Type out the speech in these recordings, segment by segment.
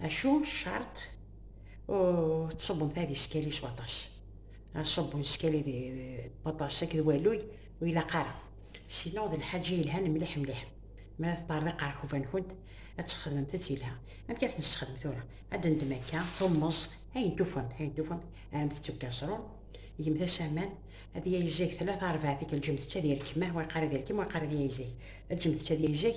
Acu ccerṭ ur tṣubbemt ad iskali s waṭas. Aṣubbu n skali d waṭas akked waluy ur ilaq ara. Sineɣ d lḥaǧa yelhan mliḥ mliḥ. Mi ara teṭṭerḍiq ɣer rkuba-nkent, ad txedmemt-tt yelha. Amek ara t-nessexdem tura? Ad d-neddem akka tummeẓ, ayen tufamt, ayen tufamt, rremt-tt deg ukaṣrun, gemt-as aman, ad yayzag tlata rebɛa tikkal, ǧǧemt-tt ad irkem, wa yeqqar ad irkem, wa yeqqar ad yayzag. Ǧǧemt-tt ad yayzag.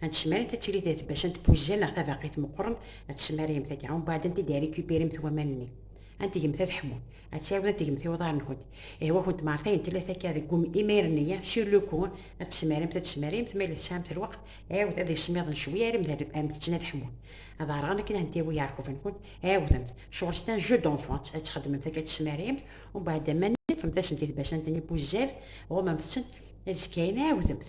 Ad tcemmarit ad tili d tbacca n tpujja neɣ tabaqit meqqren, ad tcemmariyem tagi, umbeɛd ad t-id-rikupirimt waman-nni. Ad tgemt ad ḥmun, ad tɛiwed ad tgemt i uḍar-nkent. Ihwa-kent mar tayen tella takka deg wum imair-nni-a, sur le coup, ad tcemmarimt, ad tcemmarimt, ma yella tesɛamt lweqt, ɛiwed ad ismiḍen cwi arem d am-d-ččen ad ḥmun. Ad ɛerɣen akken ad ntiwi iɛerquben-nkent, ɛiwdemt, cɣel c'est un jeu d'enfants, ad txedmemt akka ad tcemmarimt, umbeɛd aman-nni ṭfemt-asent i tbacant-nni pujjal, ɣumemt-tent, ad zkkayen ɛiwdemt.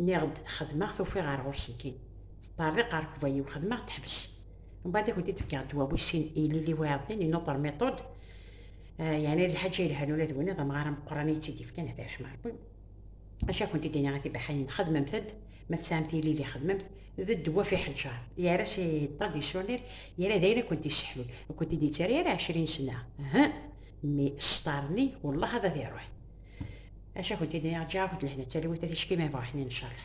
Nniɣ-d xedmeɣ-t ufiɣ ɣer ɣur-s nekkini. Teṭṭerḍiq ɣer kbayiw xedmeɣ teḥbes. Mbaɛd i kent-id fkeɣ ddwa wis sin i Lili Wiɛeḍḍin i Notre Méthode, yeɛni d Lḥaǧa yelhan ula d winna d amɣar ameqqran i yi-tt-id-yefkan at iṛeḥma Ṛebbi. Acu a kent-id iniɣ a tibaḥayin xedmemt-d ma tesɛamt ilili xedmemt d ddwa ɣef iḥeǧǧar yerra s iṭṭa d-yessunnir yerra d ayen a kent-yesseḥlun ur kent-id-yettarra ara ɛecrin sena uhh mi ṣṣtar-nni wellah ad ad iṛuḥ Acu akent-id i aɣ-ǧǧa akent lehna d talwit a ticki ma yebɣa ḥnin ncerreḥ.